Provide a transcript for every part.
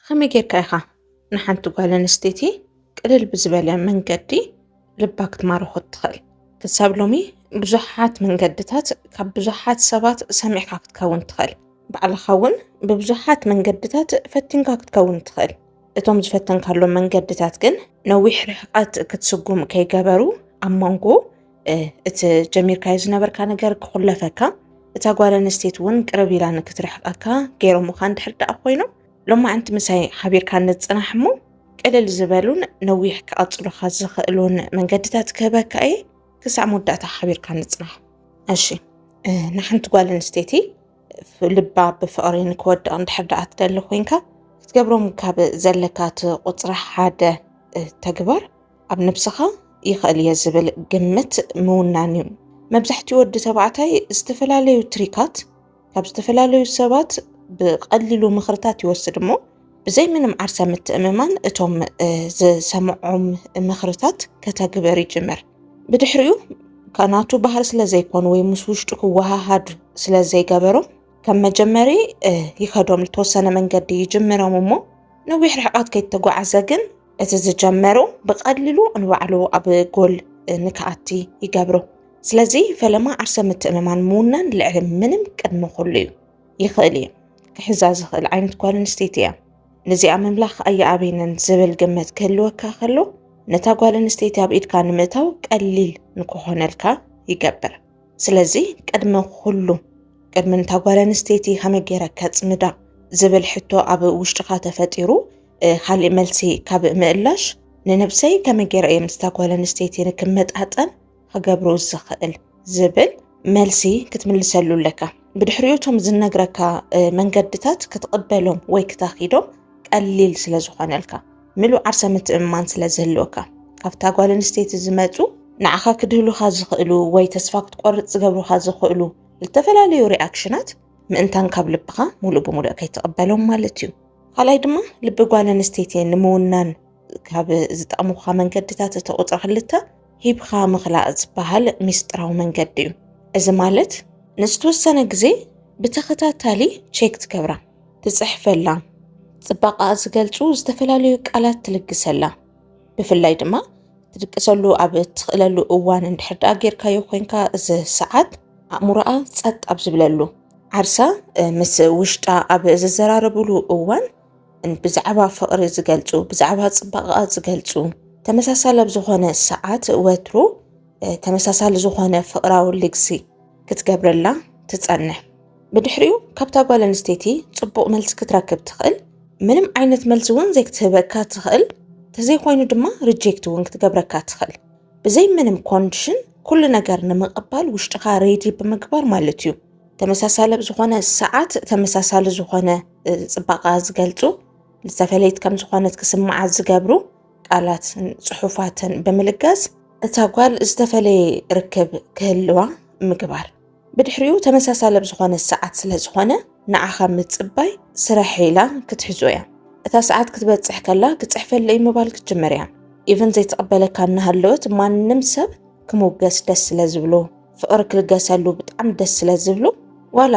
ኸመይ ጌርካ ኢኻ ንሓንቲ ጓል ኣንስተይቲ ቅልል ብዝበለ መንገዲ ልባ ክትማርኾ እትኽእል? ክሳብ ሎሚ ብዙሓት መንገድታት ካብ ብዙሓት ሰባት ሰሚዕካ ክትከውን ትኽእል። ባዕልኻ እውን ብብዙሓት መንገድታት ፈቲንካ ክትከውን ትኽእል። እቶም ዝፈተንካሎም መንገድታት ግን ነዊሕ ርሕቐት ክትስጉም ከይገበሩ ኣብ መንጎ እቲ ጀሚርካዮ ዝነበርካ ነገር ክኹለፈካ እታ ጓል ኣንስተይቲ እውን ቅርብ ኢላ ንክትርሕቀካ ገይሮምኻ እንድሕር ደኣ ኮይኑ ሎማዕንቲ ምሳይ ሓቢርካ ንፅናሕ እሞ ቅልል ዝበሉን ነዊሕ ክቐፅሉኻ ዝኽእሉን መንገድታት ክህበካ እየ ክሳዕ መወዳእታ ሓቢርካ ንፅናሕ እሺ ንሓንቲ ጓል ኣንስተይቲ ልባ ብፍቕሪ ንክወድቕ እንድሕር ደኣ ትደሊ ኮንካ ክትገብሮም ካብ ዘለካ እቲ ቁፅሪ ሓደ ተግባር ኣብ ነብስኻ ይኽእል እየ ዝብል ግምት ምውናን እዩ። መብዛሕትኡ ወዲ ተባዕታይ ዝተፈላለዩ ትሪካት ካብ ዝተፈላለዩ ሰባት ብቐሊሉ ምኽርታት ይወስድ እሞ ብዘይ ምንም ዓርሰ ምትእምማን እቶም ዝሰምዖም ምኽርታት ከተግበር ይጅምር። ብድሕሪኡ ከናቱ ባህር ስለ ዘይኮኑ ወይ ምስ ውሽጡ ክወሃሃድ ስለ ዘይገበሮም ከም መጀመሪ ይኸዶም ዝተወሰነ መንገዲ ይጅምሮም እሞ ነዊሕ ርሕቐት ከይተጓዓዘ ግን እቲ ዝጀመሮ ብቐሊሉ ንባዕሉ ኣብ ጎል ንክኣቲ ይገብሮ። ስለዚ ፈለማ ዓርሰ ምትእምማን ምውናን ልዕሊ ምንም ቅድሚ ኩሉ እዩ። ይኽእል እዩ ክሕዛ ዝኽእል ዓይነት ጓል ኣንስተይቲ እያ። ንዚኣ ምምላኽ ኣየኣብየንን ዝብል ግምት ክህልወካ ከሎ ነታ ጓል ኣንስተይቲ ኣብ ኢድካ ንምእታው ቀሊል ንክኾነልካ ይገብር። ስለዚ ቅድሚ ኩሉ ቅድሚ ነታ ጓል ኣንስተይቲ ከመይ ገይረ ከጽምዳ ዝብል ሕቶ ኣብ ውሽጥኻ ተፈጢሩ ካሊእ መልሲ ካብ ምእላሽ ንነብሰይ ከመይ ገይረ እየ ምስታ ጓል ኣንስተይቲ ንክመጣጠን ክገብሩ ዝኽእል ዝብል መልሲ ክትምልሰሉ ኣለካ ብድሕሪኡ እቶም ዝነግረካ መንገድታት ክትቕበሎም ወይ ክታኺዶም ቀሊል ስለ ዝኾነልካ ምሉእ ዓርሰ ምትእምማን ስለ ዝህልወካ ካብታ ጓል ኣንስተይቲ ዝመፁ ንዓኻ ክድህሉኻ ዝኽእሉ ወይ ተስፋ ክትቆርፅ ዝገብሩኻ ዝኽእሉ ዝተፈላለዩ ሪኣክሽናት ምእንታን ካብ ልብኻ ሙሉእ ብሙሉእ ከይትቕበሎም ማለት እዩ። ካልኣይ ድማ ልቢ ጓል ኣንስተይቲ ንምውናን ካብ ዝጠቕሙካ መንገድታት እቲ ቁፅሪ ክልተ ሂብካ ምኽላእ ዝበሃል ሚስጥራዊ መንገዲ እዩ። እዚ ማለት ንዝተወሰነ ግዜ ብተኸታታሊ ቼክ ትገብራ፣ ትፅሕፈላ፣ ፅባቐኣ ዝገልፁ ዝተፈላለዩ ቃላት ትልግሰላ፣ ብፍላይ ድማ ትድቅሰሉ ኣብ እትኽእለሉ እዋን እንድሕር ደኣ ጌርካዮ ኮንካ እዚ ሰዓት ኣእምሮኣ ጸጥ ኣብ ዝብለሉ ዓርሳ ምስ ውሽጣ ኣብ ዝዘራረብሉ እዋን ብዛዕባ ፍቕሪ ዝገልጹ ብዛዕባ ጽባቐኣ ዝገልጹ ተመሳሳሊ ኣብ ዝኾነ ሰዓት ወትሩ ተመሳሳሊ ዝኾነ ፍቕራዊ ልግሲ ክትገብረላ ትጸንሕ። ብድሕሪኡ ካብታ ጓል ኣንስተይቲ ጽቡቕ መልሲ ክትረክብ ትኽእል ምንም ዓይነት መልሲ እውን ዘይክትህበካ ትኽእል ተዘይኮይኑ ድማ ሪጀክት እውን ክትገብረካ ትኽእል ብዘይ ምንም ኮንዲሽን ኩሉ ነገር ንምቕባል ውሽጥኻ ሬዲ ብምግባር ማለት እዩ ተመሳሳለ ዝኾነ ሰዓት ተመሳሳሊ ዝኾነ ፅባቃ ዝገልፁ ዝተፈለየት ከም ዝኾነት ክስምዓ ዝገብሩ ቃላት ፅሑፋትን ብምልጋስ እታ ጓል ዝተፈለየ ርክብ ክህልዋ ምግባር ብድሕሪኡ ተመሳሳሊ ኣብ ዝኾነ ሰዓት ስለ ዝኾነ ንዓኻ ምጽባይ ስራሕ ኢላ ክትሕዞ እያ። እታ ሰዓት ክትበጽሕ ከላ ክጽሕፈለይ ምባል ክትጅምር እያ። ኢቨን ዘይትቕበለካ እናሃለወት ማንም ሰብ ክምውገስ ደስ ስለ ዝብሎ ፍቕሪ ክልገሰሉ ብጣዕሚ ደስ ስለ ዝብሎ ዋላ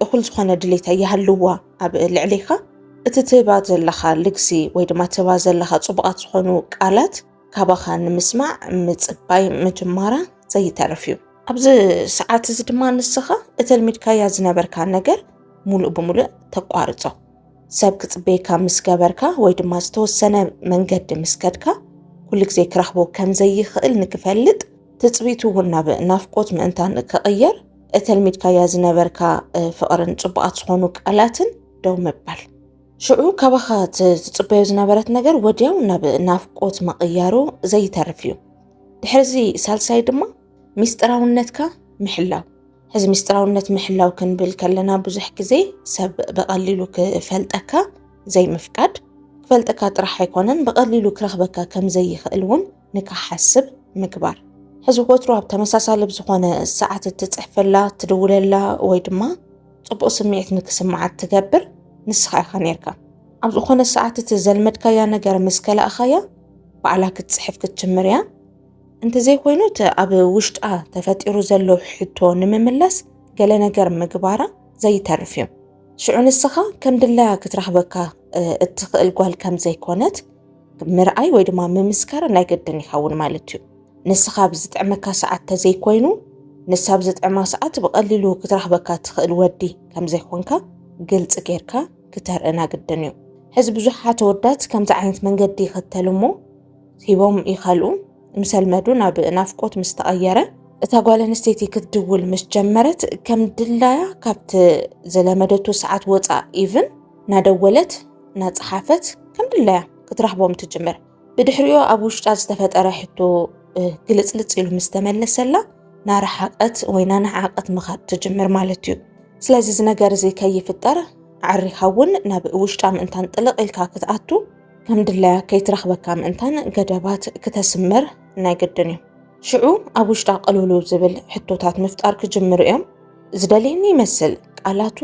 እኹል ዝኾነ ድሌታ ይሃልዋ ኣብ ልዕሌኻ እቲ ትህባ ዘለኻ ልግሲ ወይ ድማ ትህባ ዘለኻ ጽቡቓት ዝኾኑ ቃላት ካባኻ ንምስማዕ ምጽባይ ምጅማራ ዘይተርፍ እዩ። ኣብዚ ሰዓት እዚ ድማ ንስኻ እተልሚድካያ ዝነበርካ ነገር ሙሉእ ብሙሉእ ተቋርጾ። ሰብ ክጽበየካ ምስ ገበርካ ወይ ድማ ዝተወሰነ መንገዲ ምስ ከድካ ኩሉ ግዜ ክረኽቦ ከም ዘይኽእል ንክፈልጥ ትጽቢቱ እውን ናብ ናፍቆት ምእንታን ክቕየር እተልሚድካያ ዝነበርካ ፍቕርን ጽቡቓት ዝኾኑ ቃላትን ደው ምባል ሽዑ ካባኻ ትጽበዮ ዝነበረት ነገር ወዲያው ናብ ናፍቆት ምቕያሩ ዘይተርፍ እዩ ድሕርዚ ሳልሳይ ድማ ሚስጥራውነትካ ምሕላው ሕዚ ሚስጥራውነት ምሕላው ክንብል ከለና ብዙሕ ግዜ ሰብ ብቐሊሉ ክፈልጠካ ዘይምፍቃድ ክፈልጠካ ጥራሕ ኣይኮነን ብቐሊሉ ክረኽበካ ከም ዘይኽእል እውን ንክሓስብ ምግባር ሕዚ ወትሩ ኣብ ተመሳሳሊ ብዝኾነ ሰዓት እትፅሕፈላ ትድውለላ ወይ ድማ ፅቡቕ ስምዒት ንክስምዓ እትገብር ንስኻ ኢኻ ነርካ ኣብ ዝኾነ ሰዓት እቲ ዘልመድካያ ነገር ምስ ከላእኻያ ባዕላ ክትፅሕፍ ክትጅምር እያ እንተዘይኮይኑ እቲ ኣብ ውሽጣ ተፈጢሩ ዘሎ ሕቶ ንምምላስ ገለ ነገር ምግባራ ዘይተርፍ እዩ። ሽዑ ንስኻ ከም ድላያ ክትረኽበካ እትኽእል ጓል ከም ዘይኮነት ምርኣይ ወይ ድማ ምምስካር ናይ ግድን ይኸውን ማለት እዩ። ንስኻ ኣብ ዝጥዕመካ ሰዓት ተዘይኮይኑ ንሳ ኣብ ዝጥዕማ ሰዓት ብቐሊሉ ክትረኽበካ እትኽእል ወዲ ከም ዘይኮንካ ግልፂ ጌርካ ክተርእና ግድን እዩ። ሕዚ ብዙሓት ኣወዳት ከምዚ ዓይነት መንገዲ ይኽተሉ እሞ ሂቦም ይኸልኡ ምሰልመዱ ናብ ናፍቆት ምስ ተቐየረ እታ ጓል ኣንስተይቲ ክትድውል ምስ ጀመረት ከም ድላያ ካብቲ ዝለመደቱ ሰዓት ወፃእ ኢቭን ናደወለት ናፀሓፈት ከም ድላያ ክትረኽቦም ትጅምር። ብድሕሪኡ ኣብ ውሽጣ ዝተፈጠረ ሕቶ ግልፅልፅ ኢሉ ምስ ተመለሰላ ናረሓቐት ወይ ናነሓቐት ምኻድ ትጅምር ማለት እዩ። ስለዚ እዚ ነገር እዚ ከይፍጠር ዓሪኻ እውን ናብ ውሽጣ ምእንታን ጥልቕ ኢልካ ክትኣቱ ከም ድላያ ከይትረኽበካ ምእንታን ገደባት ክተስምር ናይ ግድን እዩ። ሽዑ ኣብ ውሽጣ ቅልውልው ዝብል ሕቶታት ምፍጣር ክጅምሩ እዮም። ዝደልየኒ ይመስል፣ ቃላቱ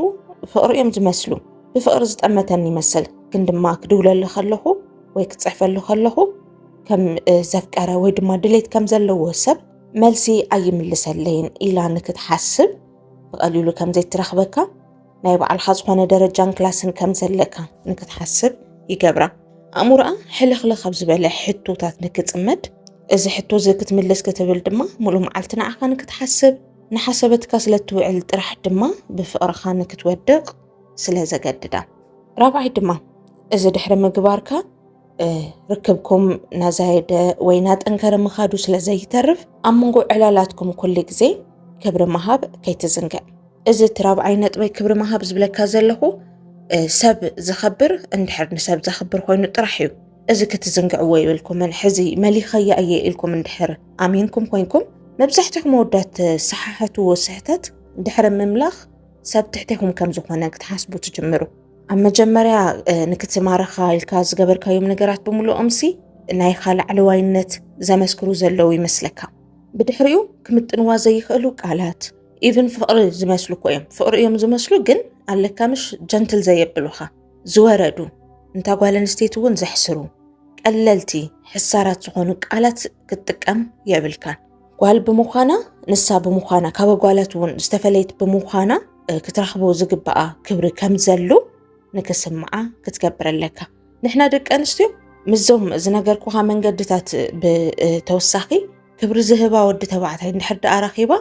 ፍቕሪ እዮም ዝመስሉ፣ ብፍቕሪ ዝጠመተኒ ይመስል፣ ግን ድማ ክድውለሉ ከለኹ ወይ ክፅሕፈሉ ከለኹ ከም ዘፍቀረ ወይ ድማ ድሌት ከም ዘለዎ ሰብ መልሲ ኣይምልሰለይን ኢላ ንክትሓስብ ብቐሊሉ ከም ዘይትረኽበካ ናይ ባዕልኻ ዝኾነ ደረጃን ክላስን ከም ዘለካ ንክትሓስብ ይገብራ ኣእምሮኣ ሕልኽልኽ ካብ ዝበለ ሕቶታት ንክፅመድ እዚ ሕቶ እዚ ክትምልስ ክትብል ድማ ሙሉእ መዓልቲ ንዓኻ ንክትሓስብ ንሓሰበትካ ስለ እትውዕል ጥራሕ ድማ ብፍቕርኻ ንክትወድቕ ስለ ዘገድዳ ራብዓይ ድማ እዚ ድሕሪ ምግባርካ ርክብኩም ናዛየደ ወይ ናጠንከረ ምኻዱ ስለ ዘይተርፍ ኣብ መንጎ ዕላላትኩም ኩሉ ግዜ ክብሪ ምሃብ ከይትዝንግዕ። እዚ እቲ ራብዓይ ነጥበይ ክብሪ ምሃብ ዝብለካ ዘለኹ ሰብ ዝኸብር እንድሕር ንሰብ ዘኽብር ኮይኑ ጥራሕ እዩ። እዚ ክትዝንግዕዎ የብልኩምን። ሕዚ መሊኸያ እየ ኢልኩም እንድሕር ኣሚንኩም ኮይንኩም መብዛሕትኹም መወዳት ሰሓሓትዎ ስሕተት ድሕሪ ምምላኽ ሰብ ትሕቴኹም ከም ዝኾነ ክትሓስቡ ትጅምሩ። ኣብ መጀመርያ ንክትማረኻ ኢልካ ዝገበርካዮም ነገራት ብምልኦምሲ ናይኻ ላዕለዋይነት ዘመስክሩ ዘለዉ ይመስለካ ብድሕሪኡ ክምጥንዋ ዘይኽእሉ ቃላት ኢቭን ፍቕሪ ዝመስሉ እኮ እዮም ፍቕሪ እዮም ዝመስሉ ግን ኣለካ ምሽ ጀንትል ዘየብሉኻ ዝወረዱ እንታ ጓል ኣንስተይቲ እውን ዘሕስሩ ቀለልቲ ሕሳራት ዝኾኑ ቃላት ክትጥቀም የብልካን ጓል ብምዃና ንሳ ብምዃና ካብ ጓላት እውን ዝተፈለየት ብምዃና ክትረኽቦ ዝግባኣ ክብሪ ከም ዘሉ ንክስምዓ ክትገብር ኣለካ ንሕና ደቂ ኣንስትዮ ምስዞም ዝነገርኩካ መንገድታት ብተወሳኺ ክብሪ ዝህባ ወዲ ተባዕታይ እንድሕር ደኣ ረኺባ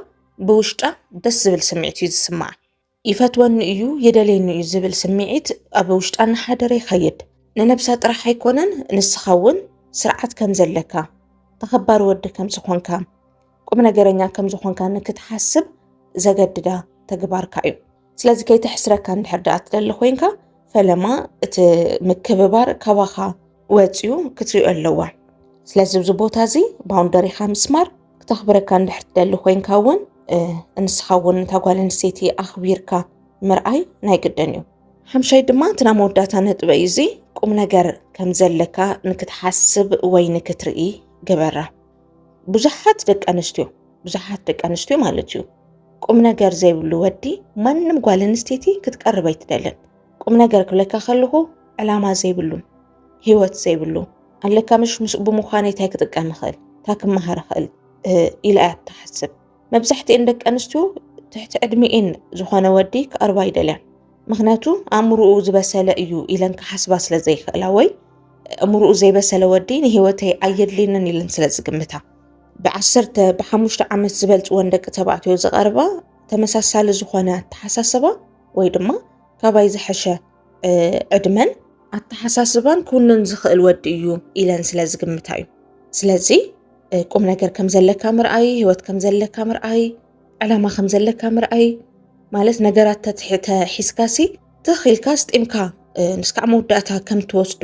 ብውሽጣ ደስ ዝብል ስምዒት እዩ ዝስምዓ ይፈትወኒ እዩ የደልየኒ እዩ ዝብል ስምዒት ኣብ ውሽጣ እናሓደረ ይኸይድ ንነብሳ ጥራሕ ኣይኮነን ንስኻ እውን ስርዓት ከም ዘለካ ተኸባሪ ወዲ ከም ዝኾንካ ቁም ነገረኛ ከም ዝኾንካ ንክትሓስብ ዘገድዳ ተግባርካ እዩ ስለዚ ከይተሕስረካ እንድሕር ደኣ ትደሊ ኮይንካ ፈለማ እቲ ምክብባር ካባኻ ወፂኡ ክትሪኦ ኣለዋ ስለዚ እዚ ቦታ እዚ ባውንደሪኻ ምስማር ክተኽብረካ እንድሕር ትደሊ ኮይንካ እውን እንስኻ እውን እታ ጓል ኣንስተይቲ ኣኽቢርካ ምርኣይ ናይ ግድን እዩ ሓምሻይ ድማ እቲ ናይ መወዳእታ ነጥበ እዩ እዚ ቁም ነገር ከም ዘለካ ንክትሓስብ ወይ ንክትርኢ ግበራ ብዙሓት ደቂ ኣንስትዮ ብዙሓት ደቂ ኣንስትዮ ማለት እዩ ቁም ነገር ዘይብሉ ወዲ ማንም ጓል ኣንስተይቲ ክትቀርብ ኣይትደልን። ቁም ነገር ክብለካ ከለኹ ዕላማ ዘይብሉ ሂወት ዘይብሉ ኣለካ ምሽ ምስኡ ብምዃነይ እንታይ ክጥቀም ይኽእል እንታይ ክመሃር ይኽእል ኢላ እያ ትሓስብ። መብዛሕትኤን ደቂ ኣንስትዮ ትሕቲ ዕድሚኤን ዝኾነ ወዲ ክቐርባ ይደልያን ምክንያቱ ኣእምሮኡ ዝበሰለ እዩ ኢለን ክሓስባ ስለ ዘይክእላ ወይ እምሮኡ ዘይበሰለ ወዲ ንሂወተይ ኣየድልየንን ኢለን ስለ ዝግምታ ብዓሰርተ ብሓሙሽተ ዓመት ዝበልፅወን ደቂ ተባዕትዮ ዝቐርባ ተመሳሳሊ ዝኾነ ኣተሓሳስባ ወይ ድማ ካባይ ዝሐሸ ዕድመን ኣተሓሳስባን ኩኑን ዝኽእል ወዲ እዩ ኢለን ስለ ዝግምታ እዩ ስለዚ ቁም ነገር ከም ዘለካ ምርኣይ ህይወት ከም ዘለካ ምርኣይ ዕላማ ከም ዘለካ ምርኣይ ማለት ነገራት ተትሕተ ሒዝካሲ ትኽ ኢልካ ስጢምካ ንስካዕ መወዳእታ ከም ትወስዶ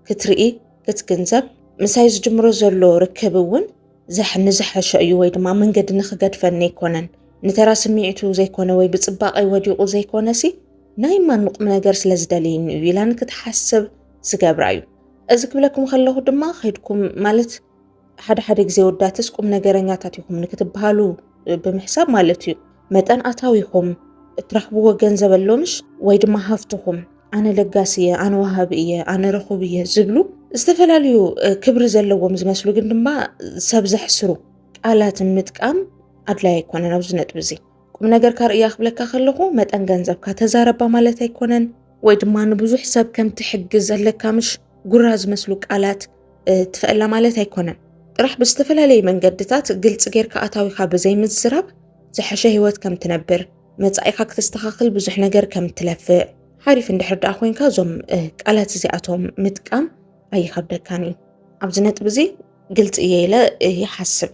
ክትርኢ ክትግንዘብ ምሳይ ዝጅምሮ ዘሎ ርክብ እውን ዘሕ ንዝሐሾ እዩ ወይ ድማ መንገዲ ንክገድፈኒ ኣይኮነን ንተራ ስምዒቱ ዘይኮነ ወይ ብፅባቐይ ወዲቑ ዘይኮነሲ ናይ ማኑቕ ነገር ስለ ዝደልየኒ እዩ ኢላ ንክትሓስብ ዝገብራ እዩ እዚ ክብለኩም ከለኹ ድማ ከድኩም ማለት ሓደ ሓደ ግዜ ወዳትስ ቁም ነገረኛታት ይኹም ንክትበሃሉ ብምሕሳብ ማለት እዩ መጠን ኣታዊኹም እትረኽብዎ ገንዘብ ኣሎምሽ ወይ ድማ ሃፍትኹም ኣነ ለጋሲ እየ፣ ኣነ ወሃቢ እየ፣ ኣነ ረኹብ እየ ዝብሉ ዝተፈላለዩ ክብሪ ዘለዎም ዝመስሉ ግን ድማ ሰብ ዘሕስሩ ቃላትን ምጥቃም ኣድላይ ኣይኮነን። ኣብዚ ነጥቢ እዚ ቁም ነገር ካርእያ ክብለካ ከለኹ መጠን ገንዘብካ ተዛረባ ማለት ኣይኮነን ወይ ድማ ንብዙሕ ሰብ ከም ትሕግዝ ኣለካ ምሽ ጉራ ዝመስሉ ቃላት ትፈእላ ማለት ኣይኮነን ጥራሕ ብዝተፈላለየ መንገድታት ግልፂ ጌርካ ኣታዊካ ብዘይምዝራብ ዝሐሸ ህይወት ከም ትነብር መፃኢካ ክተስተኻኽል ብዙሕ ነገር ከም ትለፍእ ሓሪፍ እንድሕር ደኣ ኮንካ እዞም ቃላት እዚኣቶም ምጥቃም ኣይኸብደካን እዩ ኣብዚ ነጥቢ እዚ ግልፂ እየ ኢለ ይሓስብ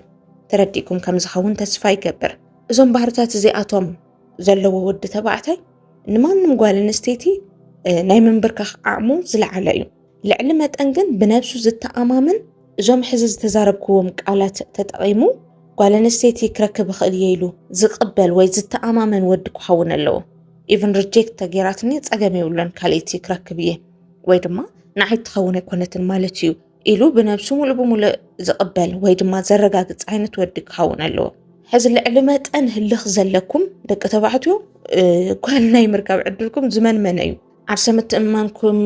ተረዲእኩም ከም ዝኸውን ተስፋ ይገብር እዞም ባህርታት እዚኣቶም ዘለዎ ወዲ ተባዕታይ ንማንም ጓል ኣንስተይቲ ናይ ምንብርካኽ ዓቕሙ ዝለዓለ እዩ ልዕሊ መጠን ግን ብነብሱ ዝተኣማመን እዞም ሕዚ ዝተዛረብክዎም ቃላት ተጠቒሙ ጓል ኣንስተይቲ ክረክብ እኽእል እየ ኢሉ ዝቕበል ወይ ዝተኣማመን ወዲ ክኸውን ኣለዎ። ኢቭን ሪጀክት ተገይራትኒ ጸገም የብሎን ካልኣይቲ ክረክብ እየ ወይ ድማ ንዓይ እትኸውን ኣይኮነትን ማለት እዩ ኢሉ ብነብሱ ሙሉእ ብሙሉእ ዝቕበል ወይ ድማ ዘረጋግጽ ዓይነት ወዲ ክኸውን ኣለዎ። ሕዚ ልዕሊ መጠን ህልኽ ዘለኩም ደቂ ተባዕትዮ ጓል ናይ ምርካብ ዕድልኩም ዝመንመነ እዩ። ዓርሰ ምትእምማንኩም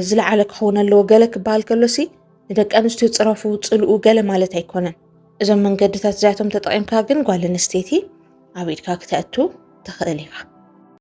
ዝለዓለ ክኸውን ኣለዎ ገለ ክበሃል ከሎሲ ንደቂ ኣንስትዮ ፅረፉ ፅልኡ ገለ ማለት ኣይኮነን እዞም መንገድታት እዚኣቶም ተጠቒምካ ግን ጓል ኣንስተይቲ ኣብ ኢድካ ክተእቱ ትኽእል ኢኻ